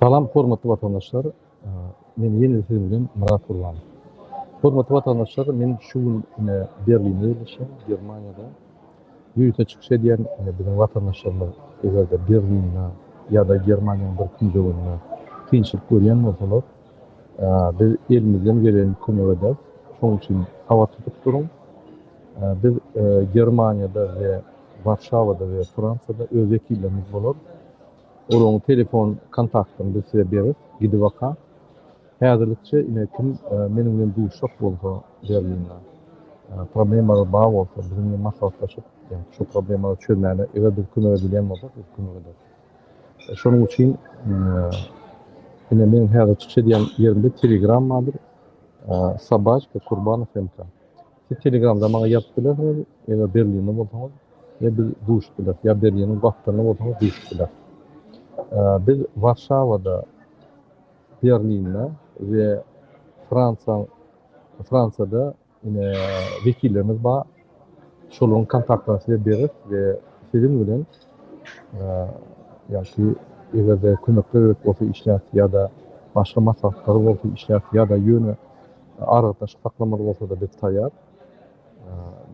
Salam hormatly watandaşlar. Men ýene-de siziň bilen Myrat Gurbanow. Hormatly watandaşlar, men şu gün ine Berlinde ýerleşýän, Germaniýada ýörite çykyş edýän biziň watandaşlarymyz eger-de Berlinde ýa-da Germaniýanyň bir künjeginde kynçylyk görýän bolsalar, biz elimizden geleni kömek ederis. Şonuň üçin habar tutup duruň. Biz Germaniýada we Warşawada we Fransiýada öz wekillerimiz bolar. Olaryň telefon kontaktyny biz size beris gidibaka. Häzirlikçe ine kim meniň bilen duşjak bolsa Berlinde, problemalary bar bolsa biziň bilen maslahatlaşyp ýa-da şo problemalary çözmäne eger biz kömek edebilýän bolsak biz kömek ederis. Şonuň üçin ine meniň häzir çykyş edýän ýerimde telegram bardyr, Sobaçka Kurbanov MK. Siz telegramda maňa ýazyp bilersiňiz, eger Berlinde bolsaňyz, ýa biz duşup bileris, ýa Berliniň gapdalynda bolsaňyz duşup bileris. Biz Warşawada, Berlinde we Fransiýaň Fransiýada ine wekillerimiz bar. Şolaryň kontaktlaryny size bereris we siziň bilen ýa-da eger-de kömekler gerek bolsa işläp ýa-da başga maslahatlar bolsa işläp ýa-da ýöne Aragatnaşyk saklamaly bolsada biz taýýar.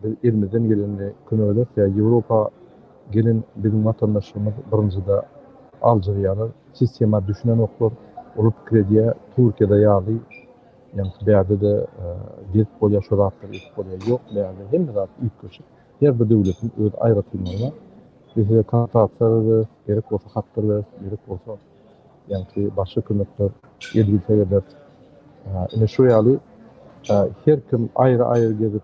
Biz elimizden gelende kömek ederis ýa Ýewropa gelen biziň watandaşlarymyz birinjide aljyrýarlar, sistema düşünenoklar, olar pikir edýär Türkiýede ýaly ýaňky bärde-de gezip bolýar şu zatlary edip bolýar. Ýok bärde hemme zat üýtgeşik. Her bir döwletiň öz aýratynlygy bar. Biz size kontaktlary berip, gerek bolsa hatlar berip, gerek bolsa. Ýagty başga kömekler edilse eder. Ine şu ýaly her kim aýry aýry gezip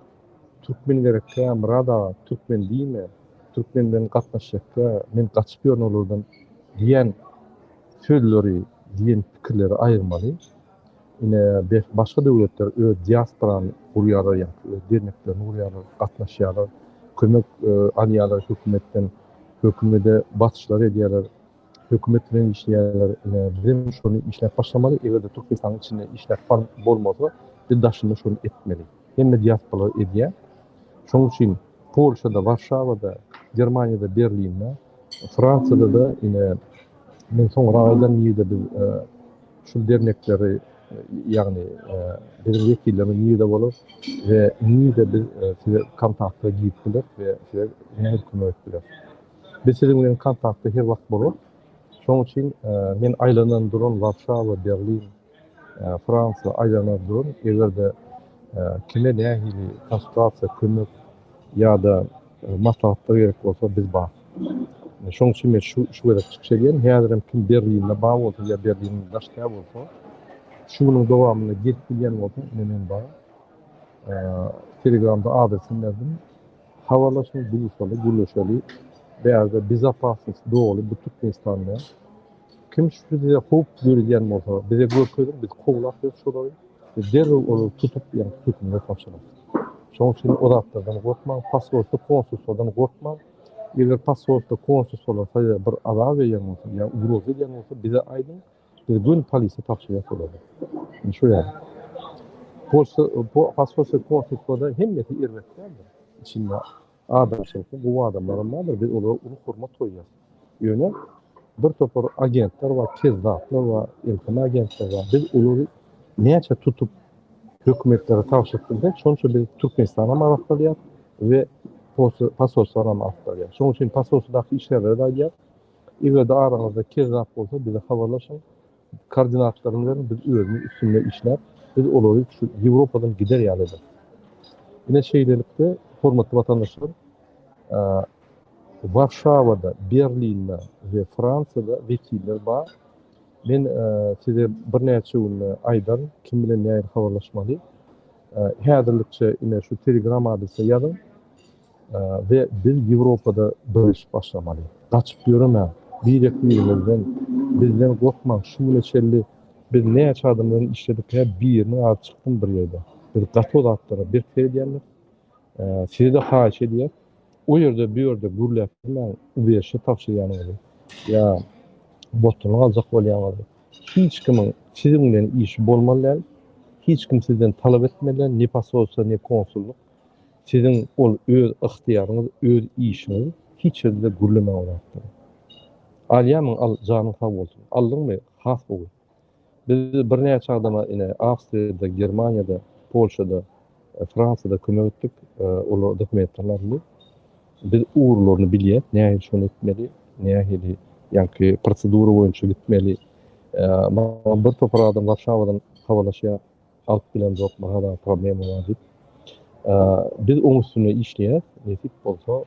türkmen gerekkä Myrat aga türkmen diýme türkmen bilen gatnaşjakka men gaçyp ýörün olardan diýen sözleri diýen pikirleri aýyrmaly. Ine başga döwletler öz diasporany gurýarlar ýagty öz derneklerini gurýarlar gatnaşýarlar kömek alýarlar hökümetden hökümede basyşlar edýärler. Hökümet bilen işleýärler bizem şony işläp başlamaly egerde türkmenistanyň içinde işläp bar bolmasa biz daşynda şony etmeli hemme diasporalar edýä şoň üçin polşada warşawada germaniýada berlinde fransiýada da ine men soňra aýdan nirede biz şul dernekleri ýagny biziň wekillerimiz nirede bolar we nirede biz size kontakta girip biler we size nähili kömek et biler. Biz siziň bilen kontaktda her wagt bolarys. Şoň üçin men aýlanan duran Warşawa, Berlin, Fransiýa aýlanar durun. Eger-de kime nähili konsultasiýa, kömek ýa-da maslahatlar gerek bolsa, biz bar. Şoň üçin men şu şu gezek çykyş edýän. Häzir hem kim Berlinde bar bolsa ýa Berlinden daşda bolsa, şu günüň dowamynda gelip bilýän bolsa, ine men bar. Telegramda adresimi berdim. Habarlaşma duşaly gürleşeli bärde bezopasnost doly bu türkmenistanda kim size howp döredýän bolsa bize görkeziň biz kowlap biz şolary we derrew olary tutup ýa-da hökümete tabşyrarys şoň üçin o zatlardan gorkmaň pasportda konsulstwadan gorkmaň eger pasportda konsulstwalar size bir azar berýän bolsa ýa ugroza edýän bolsa bize aýdyň Biz göni polise tabşyrýas olary. Indi şu ýaly. Polse, po, paspose, konfispada hemmesi erbet däldir. Içinde adamçylyk, bu adamlaram bardyr. Biz olara uly hormat goýýas. Ýöne bir topar agentler bar, kezzaplar bar, elteme agentler bar. Biz olary näçe tutup hökümetlere tabşyryp bilsek, şonça biz Türkmenistanam arassalýas we posse, pasoslaram arassalýas. Şonuň üçin pasosedaky işgärlere-de aýdýas, Eger-de araňyzda kezzap bolsa bize habarlaşyň, koordinatlaryny beriň, biz özümiz üstünde işläp, biz olary şu Ýewropadan gider ýaly ederis. Ine şeýlelikde, hormatly watandaşlar, Warşawada, Berlinde we Fransiýada wekiller bar. Men size birnäçe günde aýdaryn, kim bilen nähili habarlaşmaly. Häzirlikçe ine şu Telegram adresine ýazyň. We biz Ýewropada birleşip başlamaly. Gaçyp ýöremäň. Birek birimizden. Bizden gorkmaň şu güne çenli biz näçe adam bilen işledik hä biriniň ady çykdymy bir ýerde. Biz gaty o zatlara berk seredýändir. Sizede haýyş edýäs. O ýerde bu ýerde gürläp ýörmäň ubeşe tabşyrýanyňyzy ýa botulyny aljak bolýanyňyzy. Hiç kimiň siziň bilen işi bolmaly däl. Hiç kim sizden talap etmeli däl ne posolstwo ne konsullyk. Siziň ol öz ygtyýaryňyz, öz işiňiz hiç hili-de gürlemäge laýykdyr. Alýamyň al, janyň sag bolsun. Aldyňmy? Has gowy. Biz birnäçe adama ine, Awstriýada, Germaniýada, Polşada, Fransiýada kömek etdik. Olar dokumentlerini aldy. Biz ugurlaryny bilýäs, nähili şony etmeli, nähili ýaňky prosedura boýunça gitmeli. Maňa bir topar adam Warşawadan habarlaşýar. Halk bilemzok bu hada problema bar dip. Biz oň üstünde işleýäs. Nesip bolsa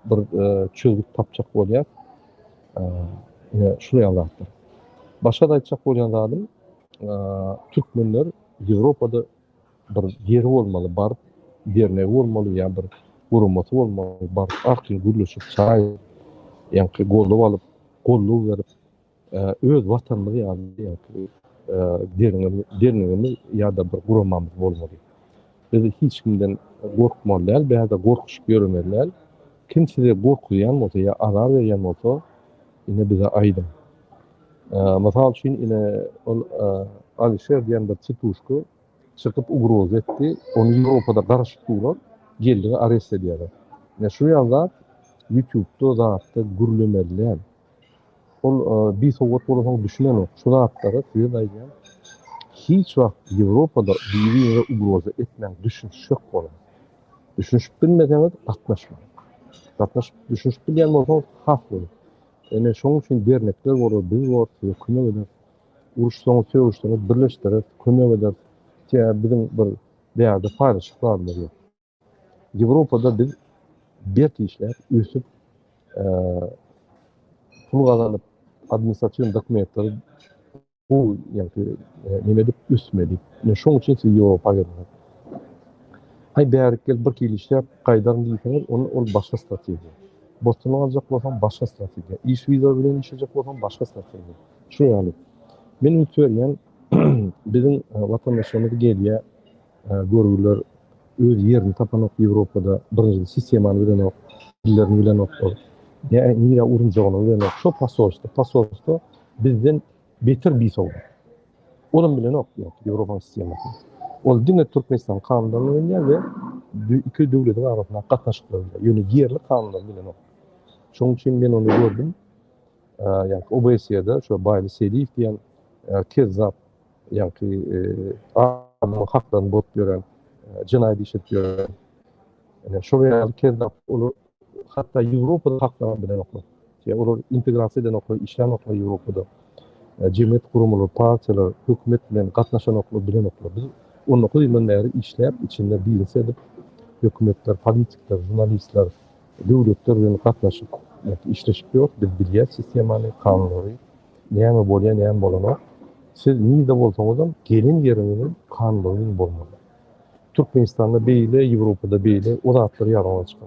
bir çözgüt tapjak bolýas. Ine şul ýaly zatlar. Başga da aýtjak bolýan zadym türkmenler Ýewropada bir ýeri bolmaly, bar dernek bolmaly ýa bir guramasy bolmaly, bar ak ýa gürleşip çaý ýa-da goldaw alyp, goldaw berip Öz Watanymyz ýaly diýýär, derňewimiz ýa-da bir guramamyz bolmaly. Biz hiç kimden gorkmaly däl, bäde gorkuşyp ýöremeli däl. Kim sizi gorkuzýan bolsa ýa azar berýän bolsa, ine bize aýdyň. Mysal üçin, ine ol Alişer diýen bir çytuşka çykyp ugroza etdi, ony Ýewropada garaşyp duran geldi arest edýärler. Ine şu ýaly zat ýutubda zatda gürlemeli däl. Ol bisowat bolasoň düşünenok şu zatlara size aýdýan hiç wagt Ýewropada biri-birine ugroza etmäň düşünişjek boluň. Düşünişip bilmeseňiz gatnaşmaň. Gatnaşyp düşünişip bilýän bolsaňyz has gowy. Ine şoň üçin dernekler bolar biz bor size kömek ederis. Uruşsaňyz sögüşseňiz birleşdireris kömek ederis. Sebäbi biziň bir bärde paýlaşyklarymyz ýok. Ýewropada biz berk işläp, ösüp, pul gazanyp, administratiw dokumentleri gowy, ýagny näme edip ösmeli. Men şoň üçin sizi Ýewropa getirdim. Aý bärik gel bir ýyl işläp gaýdaryn diýseňiz, onda ol başga strategiýa. Botuny aljak bolsaň başga strategiýa. Iş wiza bilen işlejek bolsaň başga strategiýa. Şu ýaly. Men üns berýän biziň watandaşlarymyz gelýär, Görgüler öz ýerini tapanok ýewropada birinjiden sistemany bilenok dillerini bilenok ol nä nirä urunjagyny bilenok şo pasolstwo pasolstwo bizden beter bisowat olam bilenok ýok ýewropanyň sistemasyny ol diňe türkmenistanyň kanunlaryny bilýär we iki döwletiň arasyndaky gatnaşyklary bilýär ýöne ýerli kanunlary bilenok şonuň üçin men ony gördüm ýa obsýada şo baýly seliýew diýen kezzap Ýaňky adamyň haklaryny bolup ýören, jenaýat iş edip ýören. Ine şol ýaly kezzap uly hatda Ýewropada haklaryny bilenoklar. Ýa olar integrasiýa edenoklar, işlänoklar Ýewropada. Jemgyýet guramalary, partiýalar, hökümet bilen gatnaşanoklar, bilenoklar. Biz on dokuz ýyldan bäri işläp, içinde biznes edip, hökümetler, politikler, žurnalistler, döwletler bilen gatnaşyp, işleşip ýörüs. Biz bilýäs sistemany, kanunlary. Näme bolýa näme bolanok. Siz nirde bolsaňyzam gelen ýeriňiziň kanlygyň bolmaly. Türkmenistanda beýle Ýewropada beýle o zatlary ýazyň açyk.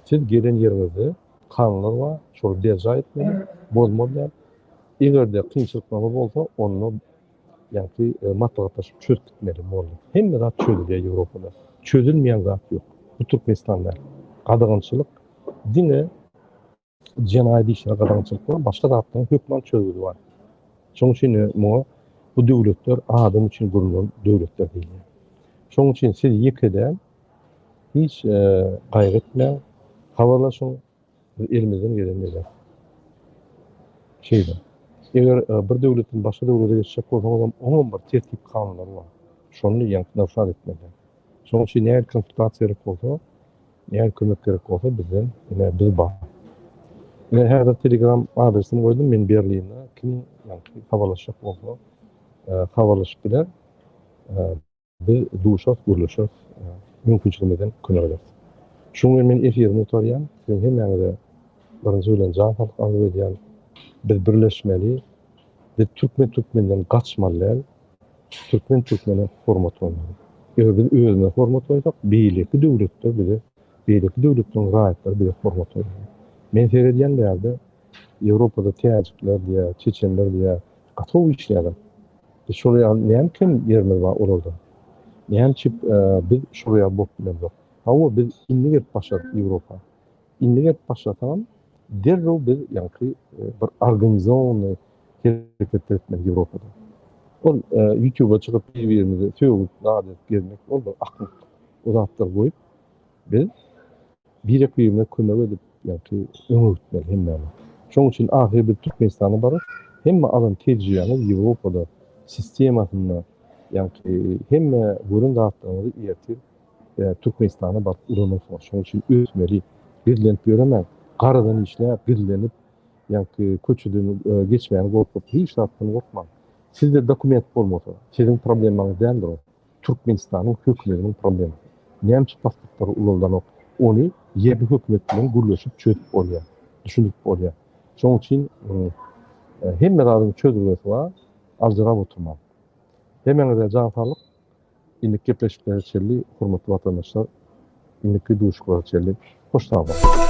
Siz gelen ýeriňizde kanunlar bar şoly berjaý etmeli bozmaly däl. Egerde kynçylyklaryňyz bolsa onda ýaňky maslahatlaşyp çözüp gitmeli boldy. Hemme zat çözülýä Ýewropada. Çözülmeýän zat ýok. Bu Türkmenistan däl. Gadagançylyk diňe Jenaýat işine gadagançylyk bolan başga zatlaryň hökman çözgüdi bar. Şonuň üçin muňa bu döwletler adam üçin gurlan döwletler diýilýär. Şonuň üçin siz ýeke däl, hiç gaýgy etmäň, habarlaşyň, biz elimizden gelenini ederis. Şeýle. Eger bir döwletden başga döwlete geçjek bolsaňyzam, oňam bir tertip-kanunlary bar. Şony ýaňky nygtat etmelidir. Şonuň üçin nähili konsultasiýa gerek bolsa, Eger kömek gerek bolsa bizden ine biz bar. Men häzir telegram adresimi goýdum men Berlinde kim ýagny habarlaşjak bolsa habarlaşyp biler. Biz duşarys gürleşeris mümkinçiligimizden könegeris. Şuň bilen men efirimi gutarýan siziň hemmäňize birinji bilen jan saglyk arzuw edýän biz birleşmeli biz türkmen türkmenden gaçmaly däl. Türkmen türkmene hormat goýmaly. Eger biz özümize hormat goýsak, beýleki döwletler bize, beýleki döwletleriň raýatlary bize hormat goýmaly. Men seredýän bärde Ýewropada täjikler diýä, çeçenler diýä gaty gowy işleýärler. Biz şol ýaly näme kem ýerimiz bar olardan? Näme üçin biz şol ýaly bolup bilemzok? Hawa biz indi gelip başardyk Ýewropa. Indi gelip başlasam, derrew biz ýaňky bir organizowanyý hereketler etmeli Ýewropada. Ol ýutuba çykyp bir-birimizi sögüp, zat edip gezmek ol bir aklyk. O zatlary goýup, biz birek-birimize kömek edip, ýaňky öňe gitmeli hemmämiz. Şonuň üçin ahyry biz Türkmenistana baryp, hemme alan tejribämiz Ýewropada, sistemasynda, ýaňky hemme gören zatlarymyzy ertir Türkmenistana baryp ulanasynlar şoň üçin ösmeli gizlenip ýöremäň garadan işläp gizlenip ýaňky köçeden geçmäni gorkup hiç zatdan gorkmaň sizde dokument bolmasa siziň problemaňyz däldir ol Türkmenistanyň hökümetiniň problemasy näme üçin pasportlary ulaldanok ony ýerli hökümet bilen gürleşip çözüp bolýa düşündirip bolýa şoň üçin hemme zadyň çözgüresi bar aljyrap oturmaň hemäňize jan saglyk. Indiki gepleşiklere çenli hormatly watandaşlar indiki duşuklara çenli hoş sag boluň.